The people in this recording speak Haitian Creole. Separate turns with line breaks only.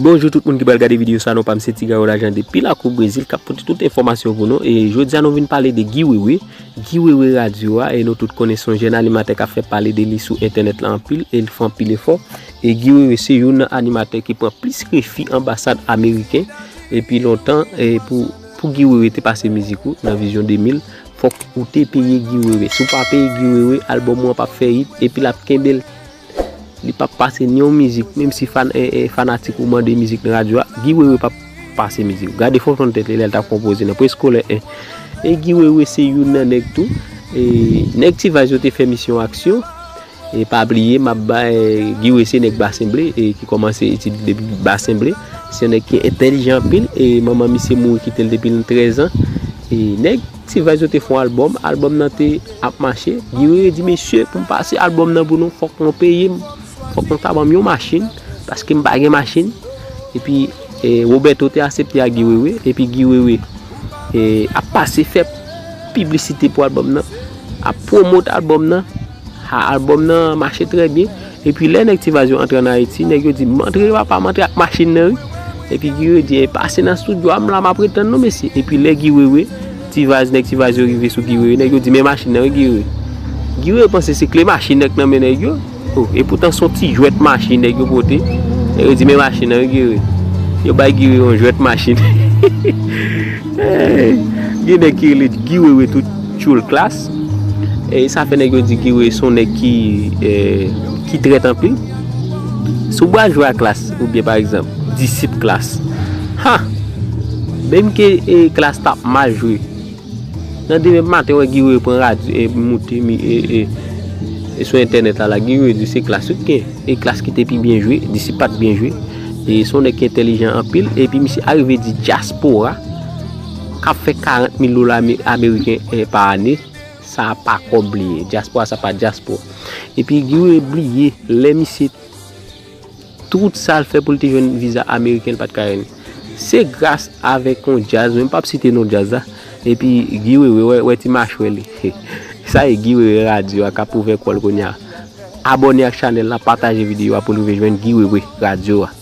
Bonjou tout moun ki pral gade video sa non pam se Tigaro Lajan depi lakou Brezil kap pote tout enfòmasyon pou nou e jodia nou vin pale de Guy Wewe Guy Wewe radio a e nou tout konnen son jèn animatè kap fè pale de li sou entènèt la anpil e li fè anpil efò e Guy Wewe se youn nan animatè ki pran plis refi anbasad ameriken epi lontan e pou pou Guy Wewe te pase mizik ou nan vizyon 2000 fòk ou te peye Guy Wewe si ou pa peye Guy Wewe albòm ou an pap fè yit epi lap kenbel. Li pap pase ni yon mizik, menm si fanatik ou mande mizik nan radyo a, Guy Wewe pap pase mizik. Gade fòton tèt li lè l t ap konpoze nan Preskolè 1. E Guy Wewe se youn nan nèg tou, nèg T-Vice yo te fè misyon aksyon, e pa bliye m ap bay Guy Wewe se nèg Basen Ble e ki kòmanse etid li depi Basen Ble. Se yon nèg ki entèlijan anpil e manman misye mouri kite l depi l 13 an. E nèg. T-vice yo te fon album, album nan te ap mache, Guy Wewe di mesye pou m pase album nan pou nou fòk nou peye m, fòk nou ta ban m yon machin, paske m pa gen machin, epi Roberto te asepte ak Guy Wewe, epi Guy Wewe ap pase fè piblisite pou album nan, ap promote album nan. Ha album nan mache trè byen. Epi lè nèg tivas yo antre an ayiti nèg yo di m antre papa m antre ak machin nan wi epi guy wewe di pase nan studio a m la map retann nou mesye epi lè guy wewe tivas nèg tivas yo rive sou guy wewe nèg yo di men machin nan wi guy wewe guy wewe panse se kle machin nan k nan men nèg yo o epoutan son ti jwèt machin nèg yo pote nèg yo di men machin nan wi guy wewe yo bay guy wewe yon jwèt machin hehehe gen nèg ki rele guy wewe tou tchoul klass. E sa fè nèg yo di Guy-Weah se yon nèg ki trèt anpil. Si w bra jwe a Klass oubyen pa egzanp, disip Klass, ha! Menm ke Klass t ap mal jwe, nan demen maten wè Guy-Weah pran radyo e moute sou entènèt la, la Guy-Weah di se Klass yo t gen. E Klass ki te pi byen jwe, disip pa t byen jwe. E se yon nèg ki entèlijan anpil. Epi misye arive di dyaspora. K ap fè 40 mil dola ameriken pa ane, sa a pa kòb li ye. Dyaspora sa pa dyaspo. E pi Guy Wewe bliye, lè misye, tout sa l fè pou l te jwenn viza ameriken l pa t ka jwenn. Se gras avèk yon djaz, mwen pa p site non djaz la, e pi Guy Wewe, wè ti machwè li. Sa e Guy Wewe Radio a k ap ouvè kò l kounye a. Abòne ak chanèl la, pataje videyo a pou l rive jwenn Guy Wewe Radio a.